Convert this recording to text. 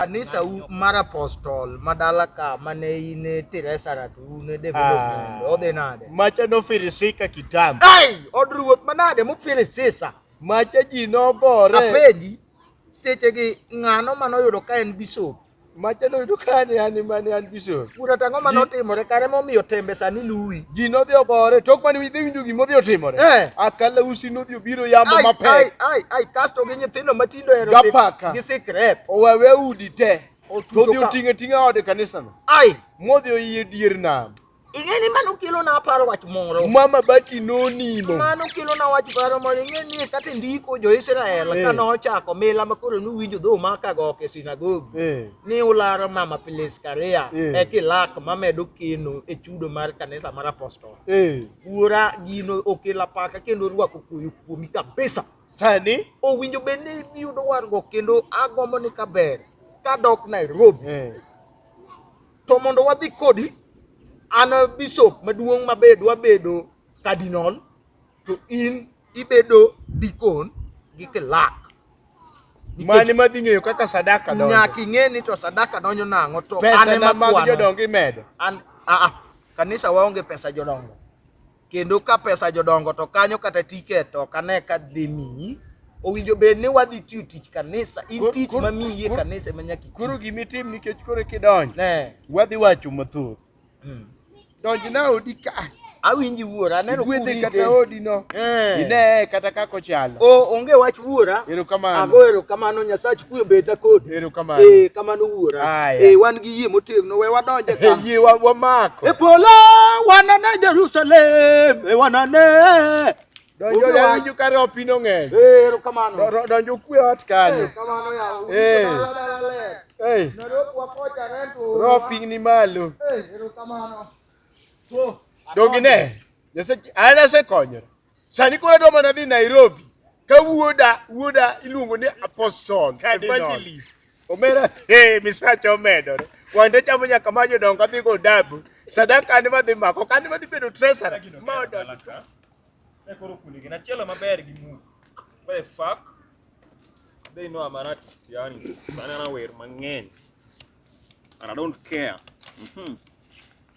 kanisa u mar apostol ma dala ka mane in e Teresa ratu un e development ah. odhi nade? Macha nofirisika kitambo. Ai, od ruoth manade mufirisisa? Macha ji nogore. Apenji sechegi ng'ano mane oyudo ka en bishop? Macha noyudo ka ne an ema ne an bishop. Bura to ang'o mane otimore kare momiyo tembe sani luwi? Ji nodhi ogore tok mane idhi winjo gima odhi otimore. Eh. Akala usi nodhi obiro yamo mapek. Ai, ai, ai, kasto gi nyithindo mati gapaka owewe udi te todhi oting'e ting'a ode kanisano modhi oyie dier nam ing'e ni mano kelo na aparo wach moro mama bati nonimo mano kelo na wach moro moro ing'e ni kata ndiko jo Israel eh. kane ochako mila ma koro nuwinjo dho ma ka gok e sinagogi eh. ni ularo mama Piliskaria eh. e kilak mamedo keno e chudo mar kanisa mar apostol wuora gino okela paka kendo rwako koyo kuomi kabisa Sani owinjo bed ni iyudo warruok kendo agombo ni ka ber kadok Nairobi. Eh. To mondo wadhi kodi an bishop maduong' ma be dwa bedo cardinal to in ibedo deacon gi clerk. Mani madhi ng'eyo kaka sadaka donjo. Nyaka ing'e ni to sadaka donjo nang'o to an ema kwano. Pesa mag jodongo imedo. An a a kanisa waonge pesa jodongo. kendo ka pesa jodongo to kanyo kata tiket to kane ka dhi miyi owinjo bed ni wadhi tiyo tich kanisa in tich ma miyi e kanisa ema nyaka iti koro gima itim nikech koro kidonjo ne wadhi wacho mathoth hmm. donj na odi ka awinji wuora aneno kuwedhe kata odi no eh. ine kata kako chalo onge wach wuora ago erokamano nyasaye Kuwe bed na kodi. Erokamano. Eh, kamano wuora. Aya. Eh, wan gi yie motegno we wadonje Eh, ka. Yie wa- wamako. E polo wanane Jerusalem, e wanane. Donjo Obi wa- donjo ka ropi no ng'eny. Eh, erokamano. Do- do- Donjo kwe ot Eh, kanyo. kamano yawa. Eh. Dala, dala, ler. Ei, Noroku wakocha rentu. ropi ni malo. Eh, erokamano. Oh, Donge ne? Nyasaye- An asekonyo. Sani koro adwa mana dhi Nairobi ka wuoda wuoda iluongo ni apostle evangelist omera eh misacha omedore wande chamo nyaka ma jodongo adhi go dabu sadaka an madhi mako kan madhi bedo treasurer ma odongo e koro kundi gin achielo maber gi mu what the fuck they know I'm an artist yani banana wer mang'eny and I don't care mm -hmm.